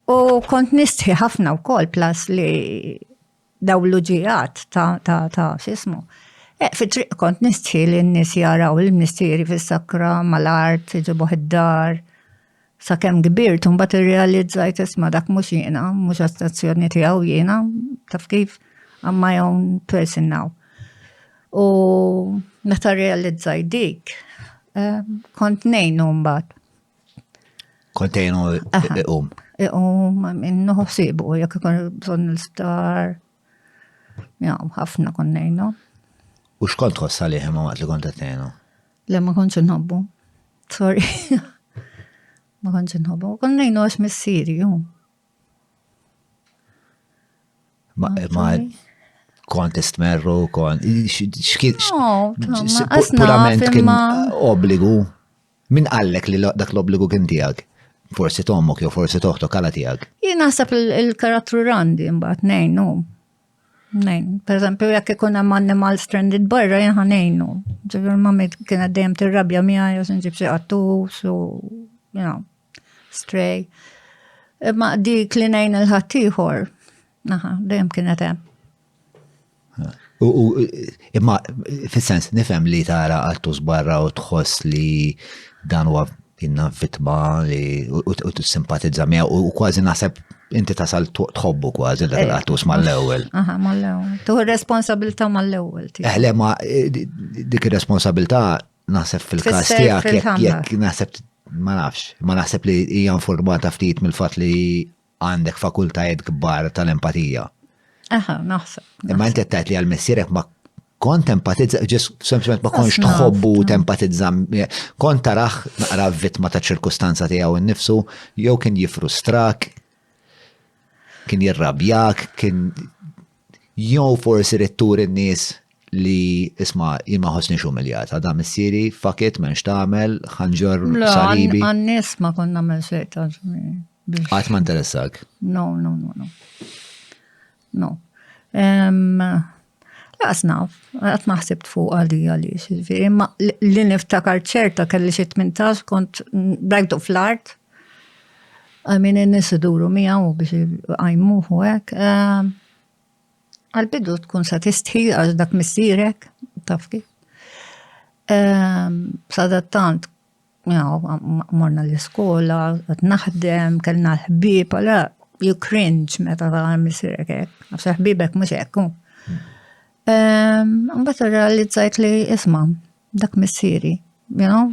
U kont nistħi ħafna wkoll plas li daw l-uġijat ta' ta' ta' xismu. Eh, fi triq kont nistħi li n-nis jaraw il-mistieri fis-sakra mal-art iġibuh id-dar. Sa kemm kbirt un bat irrealizzajt isma dak mhux jiena, mhux astazzjoni tiegħu jiena, taf kif? I'm my own person now. U meta realizzajt dik, eh, kont nejnu mbagħad. Kontejnu iqum. Iqum, minnu ħsibu, jek ikun bżon l-sptar. Ja, ħafna konnejnu. U xkont tħossa li ħemma waqt li kont għatnejnu? Le, ma konċ nħobbu. Sorry. ma konċ nħobbu. Konnejnu għax missiri, ju. Ma, ma, kont istmerru, kont, xkiet, purament kien obbligu. Min qallek li dak l-obbligu kien tiegħek? Forsi tommok jew forsi toħtok għala tiegħek. Jien naħseb il-karattru randi mbagħad ngħinu. Nejn, per eżempju, jekk ikun hemm animal stranded barra jien ħanejnu. Ġifier ma kienet dejjem tirrabja miegħi jew se nġib xi qattus u you know, stray. Imma dik li ngħin il-ħaddieħor, naħa, dejjem kienet hemm. U imma fis-sens nifhem li tara għattus barra u tħoss li dan huwa inna fitma li u t-simpatizza mija u kważi naħseb inti tasal tħobbu kważi dak il-qattus eh, mal-ewwel. Aha, mal-ewwel. Tuħu responsabilta mal-ewwel. Eħle, eh, ma eh, dik ir-responsabilta naħseb fil-kas tiegħek jekk naħseb ma nafx, ma naħseb li hija informata ftit mill-fatt li għandek fakultajiet kbar tal-empatija. Aha, naħseb. Imma inti tajt li għal-messierek ma kont empatizza, ġis sempliment ma konx tħobbu tempatizza, kont taraħ naqra vittma ta' ċirkustanza tiegħu nnifsu, jew kien jifrustrak, kien jirrabjak, kien Jew forsi rrid turi n-nies li isma' jien ma ħossniex umiljat, għadha missieri, fuck it, m'hemmx tagħmel, ħanġor salibi. Għan-nies ma kont nagħmel xejn ta' Qatt ma interessak. No, no, no, no. No. Laqas naf, għat maħsibt fuq għalli għalli, xizviri, ma li niftakar ċerta kelli xie 18 kont brajtu fl-art, Għamin in-nies iduru miegħu biex iqajmuh u hekk. Ehm, għal-bidu tkun sa tistħi għax dak missierek, taf kif. Ehm, sadattant, morna l-iskola, għat naħdem, kellna l-ħbib, għala, you cringe meta ta' missierek hekk, għax ħbibek mhux hekk. Ehm, mbagħad realizzajt li isma' dak missieri, you know,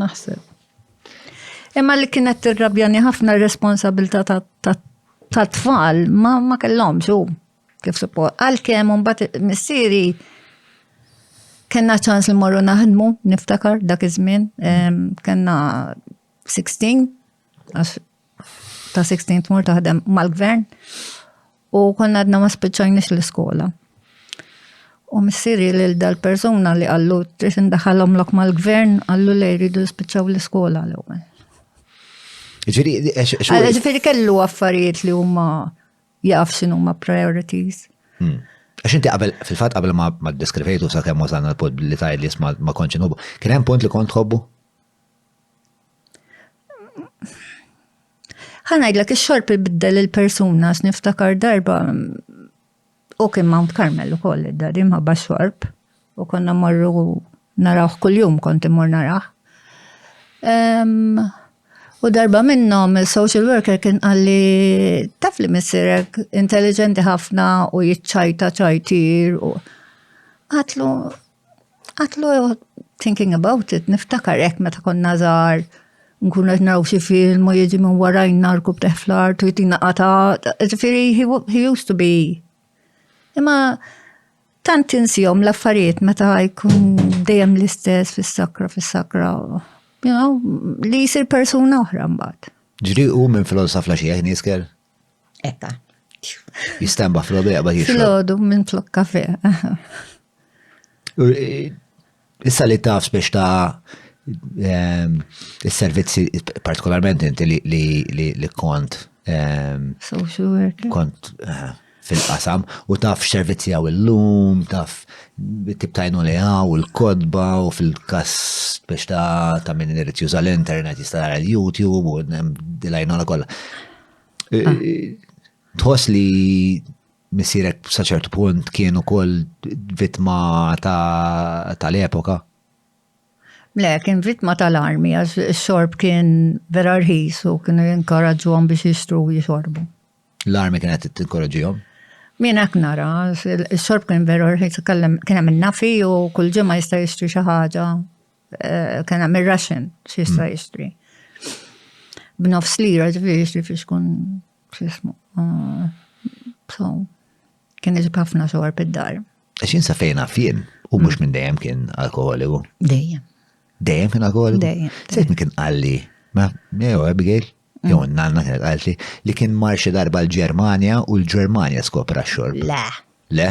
Naħseb. Imma li kienet tirrabjani ħafna r-responsabilità ta' tfal ma, ma kellhom xu kif suppo. Għalkemm mbagħad missieri kena ċans li morru naħdmu, niftakar dak iż-żmien, kena 16, ta' 16 tmur taħdem mal-gvern. U konna għadna ma spiċċajniex l-iskola. U missiri lil dal-persuna li għallu trid indaħalhom lok mal-gvern għallu li jridu jispiċċaw l-iskola l-ewwel. Ġifieri kellu affarijiet li huma jaf x'inhu ma priorities. Hmm. Għax inti qabel, fil-fatt qabel ma deskrivejtu sa' kemm wasalna l-pod li tajt li jisma ma konċi nħobbu, kien hemm punt li kont tħobbu? Ħa ngħidlek ix-xorb ibiddel il-persuna x'niftakar darba u kien Mount Carmel ukoll id-dadi mħabba xorb u konna morru narawh kuljum kont immur narah. U darba minnhom il-social worker kien qalli taf li missirek intelligenti ħafna u jiċċajta ċajtir u għatlu Għatlu, thinking about it, niftakar hekk meta konna żgħar nkun qed naraw xi film u jiġi minn warajn narku b'teħ fl-art u jtina qata, ġifieri he used to be. Imma tant insihom l-affarijiet meta jkun dejjem l-istess fis-sakra fis-sakra. You know, li jsir persuna oħra mbagħad. Ġriqu minn filosof la xieħ niskel? Ekka. Jistamba fl-ħodu jaqbad jixrob. Fl-ħodu minn flok kafe. Eh, issa li taf biex ta' ehm, il-servizzi, partikolarment inti li kont. Ehm, Social worker. Kont eh, fil-qasam u taf x'servizzi għaw il-lum, taf tip tajnu li għaw il-kodba u fil-kas biex ta' ta' minn irrit juża l-internet jistara l-YouTube u dilajnu la kolla. Tħoss li missirek saċert punt kien ukoll vittma tal-epoka? Le, kien vittma tal-armi, għax xorb kien vera rħis u kienu jinkoraġġuhom biex jixtru u jixorbu. L-armi kienet tinkoraġġihom? Min hekk nara, xorb kien vera rħis, kien hemm nafi u kull ġimgħa jista' jixtri xi ħaġa eh, kien hemm ir-raxen xi jista' hmm. jixtri. B'nofs lira ġifieri jixtri fiex kun x'ismu. Eh, so, kien iġib ħafna xogħol pid-dar. X'in sa fejn fien u mhux minn dejjem kien alkoholiku. Dejjem. Dejjem kien alkoholiku? Dejjem. Sejt kien qalli, ma, jew Abigail, mm. jew nanna kienet qalti li kien marxi darba l-Ġermanja u l-Ġermanja skopra xorb. Le. Le?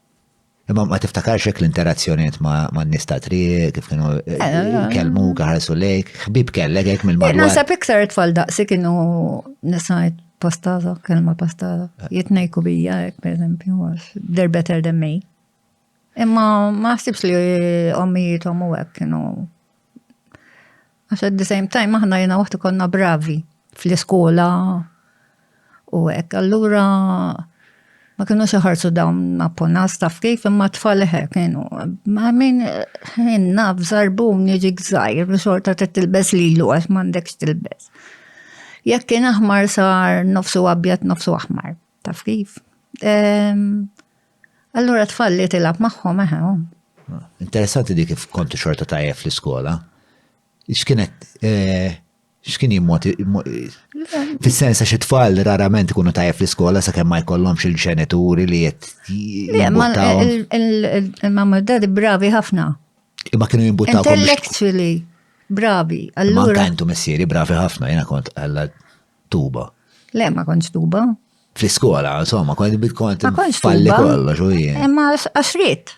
Imma ma tiftakarx hekk l-interazzjoniet ma' nies ta' triq, kif kienu eh, eh, eh. kelmu, kaħarsu lejk, ħbib kellek hekk mill-madwar. Nasab iktar tfal daqsi kienu nisajt pastaza, kelma pastaza. Jitnejku bija hekk pereżempju, they're better than me. Imma ma ħsibx li ommijietom u hekk kienu Għax at the same time aħna jena waħt konna bravi fl-iskola u hekk. Allura ma kienu xaħarsu dawn apponas taf kif imma tfal eħe kienu. Ma min jenna bżarbun jiġi gżajr u xorta t tilbes li l għax mandekx tilbes. Jekk kien aħmar sar nofsu abjad nofsu aħmar taf kif. Allura tfal li tilab magħhom eħe. Ah, interessanti dik kif kontu xorta tajjeb fl-iskola. X'kienet eh, x'kien jimmoti fis-sens għax it-tfal rarament ikunu tajjeb fl-iskola sakemm ma jkollhomx il-ġenituri li qed il-mamma dadi bravi ħafna. Imma kienu jimbuttaw. Intellectually bravi. Allura. Tantu missieri bravi ħafna, jena kont għalla tuba. Le, ma kontx tuba. Fl-iskola, insomma, kont bit kont falli kollox u jien. Imma għaxrit.